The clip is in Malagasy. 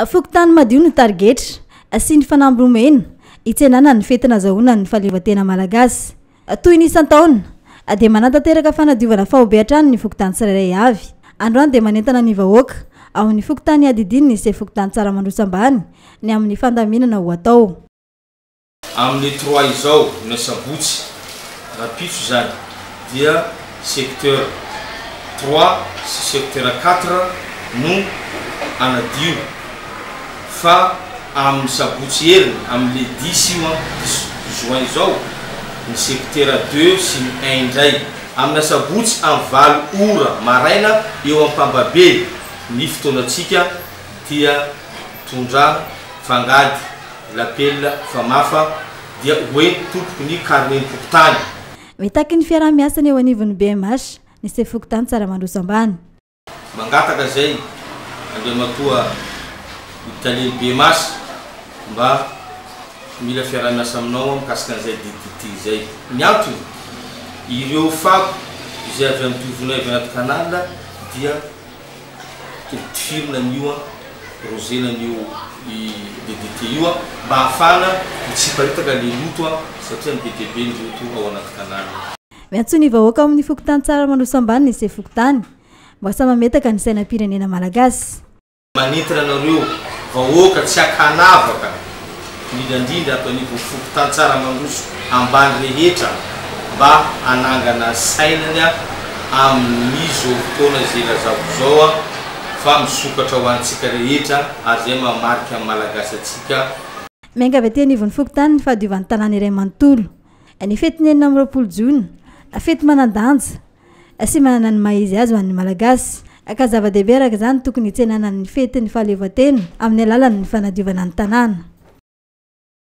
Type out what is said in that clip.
Fokontany madio no tarigetra sy ny fanamby nomena hitsenana ny fety nazahoana ny fahaleovantena malagasy. Toy ny isan-taona, dia manatanteraka fanadiovana faobe hatrany ny fokontany tsirairay avy. Androany dia manentana ny vahoaka ao amin'ny fokontany hiadidiany ny sefo fokontany Tsaramandroso Ambany ny amin'ny fandaminana ho atao. Amin'ny trois izao, ny asabotsy, rahampitso izany, dia secteur trois sy secteur quatre no anadio fa amin'ny sabotsy heriny, amin'ny le dix io an, dix juin izao, ny sectera deux sy ny un indray. Amin'ny asabotsy amin'ny valo ora maraina eo Ampambabey ny fotoanantsika dia. Tondra, fangady, lapelina, famafa, dia ho ento tompoky ny karnem-pokontany. Mitaky ny fiaraha-miasana eo anivon'ny BMH ny sefo fokontany Tsaramandroso Ambany. Mangataka izay Andriamatoa ny Talen'ny BMH mba mila fiaraha-miasa aminao aho mikasika an'izay DDT izay. Ny antony, ireo fako izay avy amin'ny tohivonay avy anaty canal dia Totifirina an'io an, rozena an'io i DDT io an, mba ahafahana mitsiparitaka le loto an, satria ny be dia be ny loto ao anaty tanàna. Miantso ny vahoaka ao amin'ny fokontany Tsaramandoso Ambany ny sefo fokontany mba sahy mametaka ny sainam-pirenena malagasy. Manentana anareo vahoaka tsy akanavaka. indrindra indrindra ato anivon'ny fokontantsaha Mandroso ambany rehetra mba hanangana sainany amin'izao fotoana izay ilazako izao fa misokatra ho antsika rehetra ary izay mahamarika ny Malagasy antsika Miangavy aty anivon'ny fokontany ny fahadiovan'ny tanàna iray manontolo. Ny fetin'ny enina amby roapolo jona, fety manan-danja. sy manana ny maha izy azy ho an'ny Malagasy, ka zava-dehibe araka izany tokony hitsenana ny fetin'ny fahaleovantena amin'ny alalan'ny fanadiovana ny tanàna.